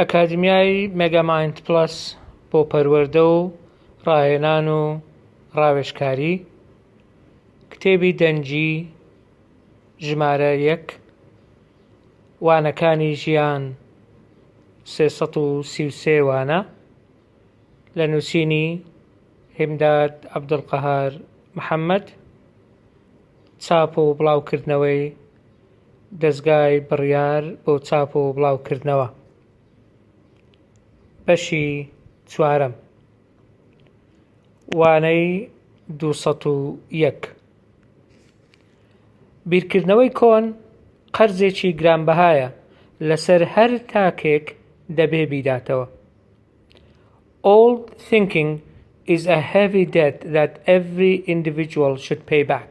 ئەکادیمیای مێگامایند پڵەس بۆ پەروەردە و ڕاهێنان و ڕاوێژکاری کتێبی دەنگی ژمارە یەک وانەکانی ژیان سێ سەد و سی و سێ وانە لە نووسینی هیمداد عەبدولقەهار محەمەد چاپ و بڵاوکردنەوەی دەزگای بڕیار بۆ چاپ و بڵاوکردنەوە بەشی چوارەم وانەی دوو سەد و یەک بیرکردنەوەی کۆن قەرزێکی گرانبەهایە لەسەر هەر تاکێک دەبێ بیداتەوە Old thinking is a heavy debt that every individual should pay back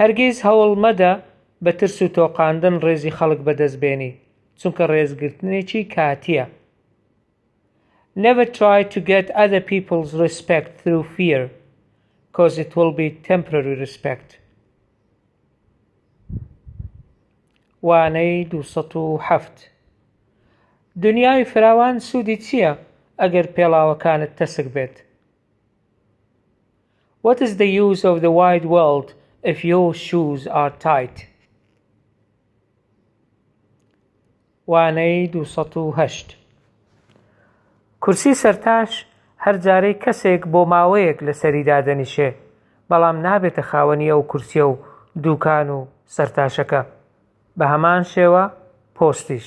هەرگیز هەوڵ مەدە بە ترس و تۆقاندن ڕێزی خەڵک بەدەست بێنی چونکە ڕێزگرتنێکی کاتییە Never try to get other people's respect through fear cause it will be temporary respect وانەی دوو سەد و حەفت دنیای فراوان سوودی چییە ئەگەر پێڵاوەکانت تەسک بێت؟ What is the use of the wide world if your shoes are tight وانەی 208 کورسی سەرتاش هەر جارەی کەسێک بۆ ماوەیەک لەسەری دادەنیشێ بەڵام نابێتە خاوەنی ئەو کورسیە و دووکان و سەرتاشەکە بە هەمان شێوە پۆستیش.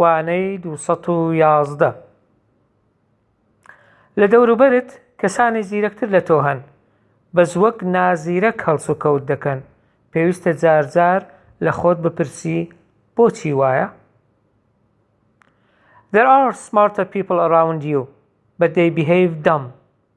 وانەی دوو سەد و یازدە. لە دەوروبەرت کەسانی زیرەکتر لە تۆ هەن، بەس وەک نازیرەک هەڵسوکەوت دەکەن، پێویستە جار جار لە خۆت بپرسی بۆچی وایە؟ There are smarter people around you, but they behave dumb.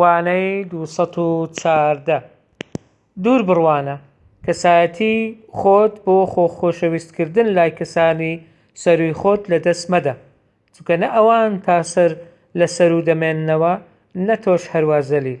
وانەی دوو سەد و چواردە، دوور بڕوانە کەسایەتی خۆت بۆ خۆ خۆشەویست کردن لای کەسانی سەرووی خۆت لە دەست مەدە چونکە نە ئەوان تا سەر لە سەروو دەمێننەوە نە تۆش هەروا زەلیل.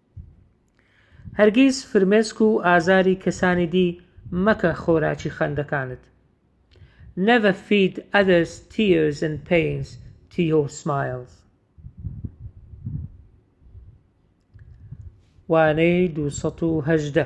هەرگیز فرمێسک و ئازاری کەسانی دی مەکە خۆراکی خەندەکانت Never feed others tears and pains to your smiles وانەی دوو سەد و هەژدە.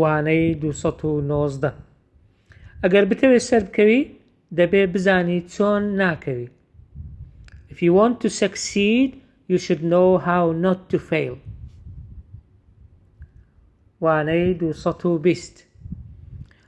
وانەی دوو سەد و نۆزدە ئەگەر بتەوێت سەر بکەوی دەبێ بزانی چۆن ناکەوی If you want to succeed you should know how not to fail وانەی دوو سەد و بیست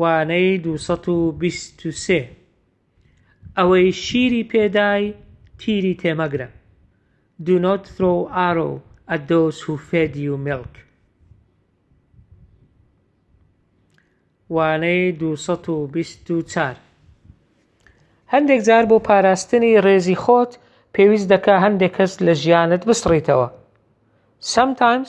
وانەی دوو سەد و بیست و سێ ئەوەی شیری پێ دای تیری تێ مەگرە Do not throw arrow at those who fed you milk وانەی دوو سەد و بیست و چار هەندێک جار بۆ پاراستنی ڕێزی خۆت پێویست دەکا هەندێک کەس لە ژیانت بسڕیتەوە Sometimes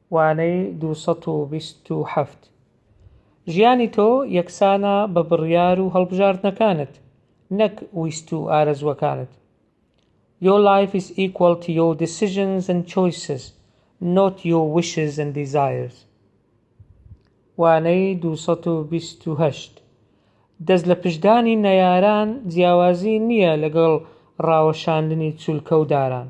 وانەی دوو سەد و بیست و حەفت. ژیانی تۆ یەکسانە بە بڕیار و هەڵبژاردنەکانت، نەک ویست و ئارەزووەکانت. Your life is equal to your decisions and choices, not your wishes and desires. وانەی دوو سەد و بیست و هەشت. دەست لە پشتدانی نەیاران جیاوازی نییە لەگەڵ ڕاوەشاندنی چولکە و داران.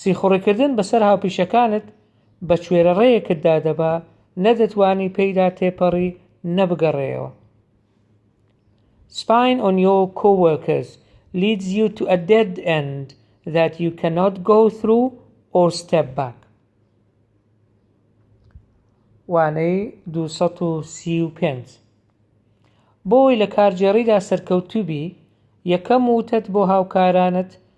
سیخوڕیکردن بەسەر هاوپیشەکانت بە کوێرەڕێیەکتدا دەبا نە دەتوانی پێیدا تێپەڕی نە بگەڕێیەوە Spying on your coworkers leads you to a dead end that you cannot go through or step back وانەی 235 بۆی لە کارگێڕیدا سەرکەوتوبی یەکەم وتەت بۆ هاوکارانت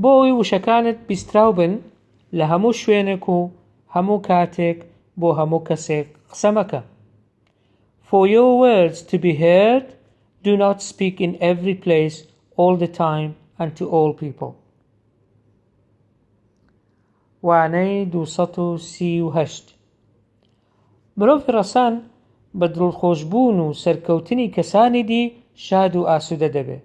بۆ ئەوەی وشەکانت بیستراو بن لە هەموو شوێنێک و هەموو کاتێک بۆ هەموو کەسێک قسە مەکە For your words to be heard do not speak in every place all the time and to all people وانەی 238 مرۆڤی ڕەسەن بە دڵخۆشبوون و سەرکەوتنی کەسانی دی شاد و ئاسوودە دەبێت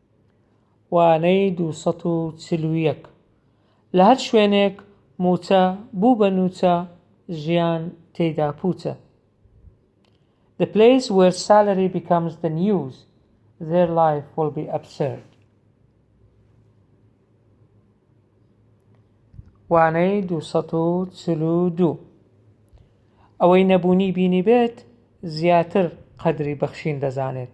وانەی دوو سەد و چل و یەک لە هەر شوێنێک مووچە بوو بە نووچە ژیان تێیدا پووچە The place where salary becomes the news their life will be absurd وانەی دوو سەد و چل و دوو ئەوەی نەبوونی بینی بێت زیاتر قەدری بەخشین دەزانێت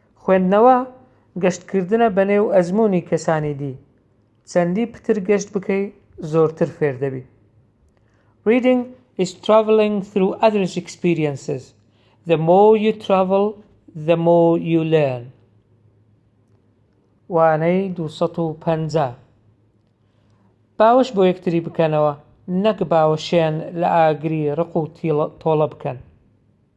خوێندنەوە گەشتکردنە بەنێو ئەزموونی کەسانی دی، چەندی پتر گەشت بکەی زۆرتر فێر دەبی. Reading is traveling through others experiences the more you travel the more you learn وانەی دوو سەد و پەنجا باوەش بۆ یەکتری بکەنەوە نەک باوەشیان لە ئاگری ڕق و تۆڵە بکەن.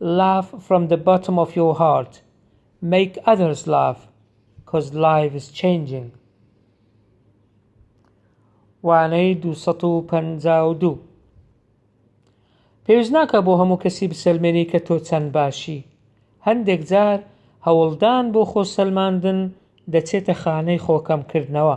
Laugh from the bottom of your heart Make others laugh Cos life is changing وانەی دوو سەد و پەنجا و دوو پێویست ناکە بۆ هەموو کەسی بسەلمێنی کە تۆ چەند باشی هەندێک جار هەوڵدان بۆ خۆ سەلماندن دەچێتە خانەی خۆکەمکردنەوە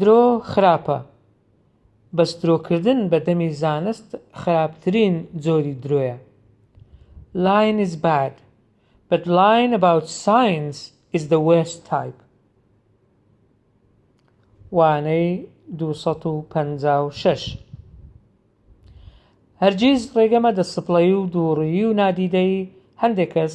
درۆ خراپە بەس درۆکردن بە دەمی زانست خراپترین جۆری درۆیە Lying is bad but lying about science is the worst type وانەی دوو سەد و پەنجا و شەش هەرگیز ڕێگە مەدە سپڵەیی و دووڕیی و نادیدەیی هەندێک کەس